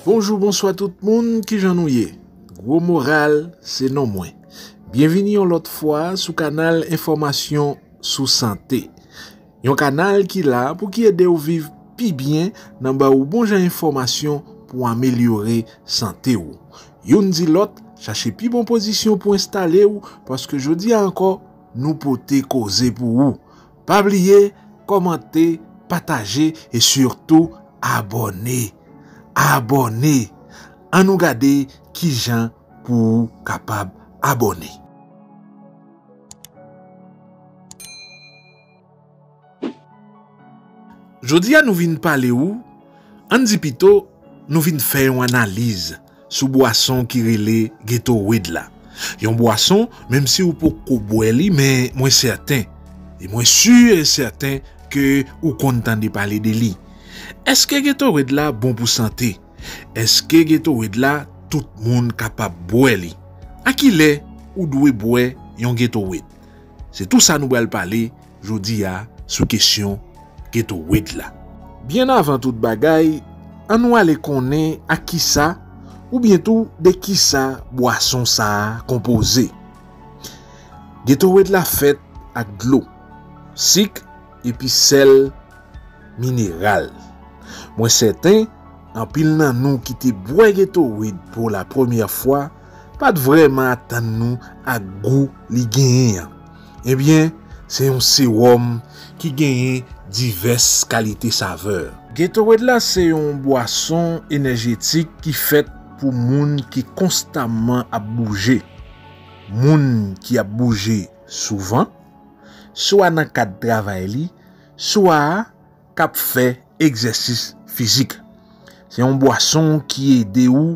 Bonjou, bonswa tout moun, ki jan nou ye? Gwo moral, se non mwen. Byenvini yon lòt fwa sou kanal enfòmasyon sou sante. Yon kanal ki la pou ki ede ou viv pi byen nan ba ou bon jan enfòmasyon pou amelyore sante ou. Youn di lòt, chache pi bon pozisyon pou enstale ou paske jodi a ankò nou pote koze pou ou. Pa bliye kòmante, pataje e sitou abòne! Abòne! An nou gade ki jan pou ou kapab abòne. Jodi a nou vin pale ou, an n di pito nou vin fè yon analiz sou bwason ki rele Gatorade la. Yon bwason, menm si ou poko bwè li men mwen sèten, e mwen sur e sèten ke ou konn tande pale de li. Eske Gatorade la bon pou sante? Eske Gatorade la tout moun kapab bwè li? Akilè ou dwe bwè yon Gatorade? Se tou sa nou bral pale jodi a sou kesyon Geto Wid la. Byen avan tout bagay, an nou ale konnen ak kisa oubyen tou de kisa bwason sa a konpoze. Geto Wid la fèt ak dlo, sik epi sèl mineral. Mwen sèten anpil nan nou ki te bwè Geto Wid pou la premyè fwa, pa t vrèman atann nou ak gou li genyen an. Ebyen, se yon sewòm ki genyen divès kalite savè. Gatorade la se yon bwason enèjetik ki fèt pou moun ki konstamman ap bouje, moun ki ap bouje souvan, swa nan kad travay li, swa. k ap fè egzèsis fizik. Se yon bwason ki ede ou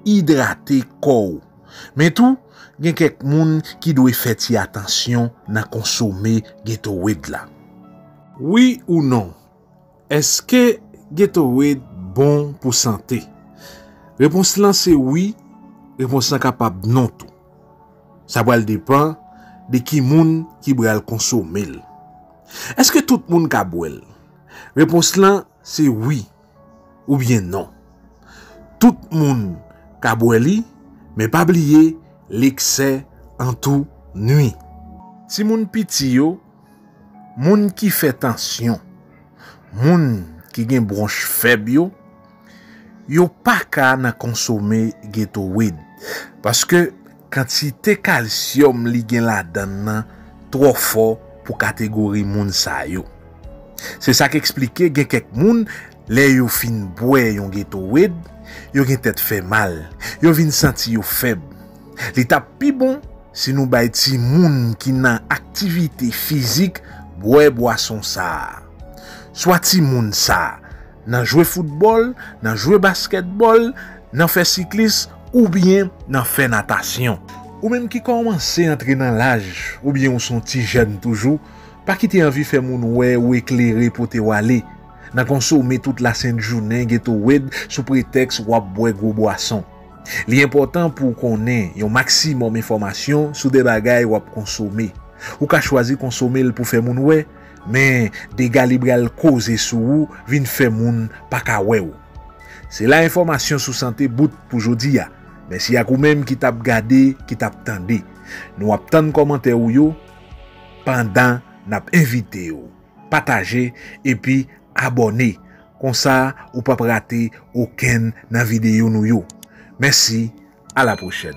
idrate kò ou. Men tou, gen kèk moun ki dwe fè ti atansyon nan konsome Gatorade la. Wi ou non, Èske Gatorade bon pou sante? Repons lan se wi, repons lan kapab non tou. Sa pral depan de ki moun ki bral konsome l. Eske tout moun ka bwè l? Repons lan se wi oubyen non. Tout moun ka bwè li men pa bliye leksè an tou nwi. Timoun piti yo, moun ki fè tansyon, moun ki gen bwonch fèb yo. Yo paka nan konsome Gatorade paske kantite kalsyòm li gen ladann nan twò fò pou kategori moun sa yo. Se sa k eksplike gen kèk moun lè yo fin bwè yon Gatorade, yo gen tèt fè mal, yo vin santi yo fèb. Li tap pi bon si nou bay timoun ki nan aktivite fizik bwè bwason sa a. Swa timoun sa. nan jwe foutbòl, nan jwe baskètbòl, nan fè siklis oubyen nan fè natasyon. Ou menm ki kòmanse antre nan laj oubyen ou son ti jèn toujou, pa kite anvi fè moun wè ou eklere potew ale nan konsome tout lasent jounen Gatorade sou pretèks wap bwè gwo bwason. Li enpòtan pouw konnen yon maksimòm enfòmasyon sou de bagay wap konsome. Ou ka chwazi konsomel pou fè moun wè, Men dega li bral koze sou ou vin fè moun pa ka wè ou. Se la enfòmasyon sou sante bout pou jodi a. Mèsi ak ou menm ki tap gade, ki tap tande. Nou ap tann kòmantè ou yo pandan nap envite ou pataje epi abòne. Konsa ou pap rate okenn nan videyo nou yo. Mèsi, a la pwochèn.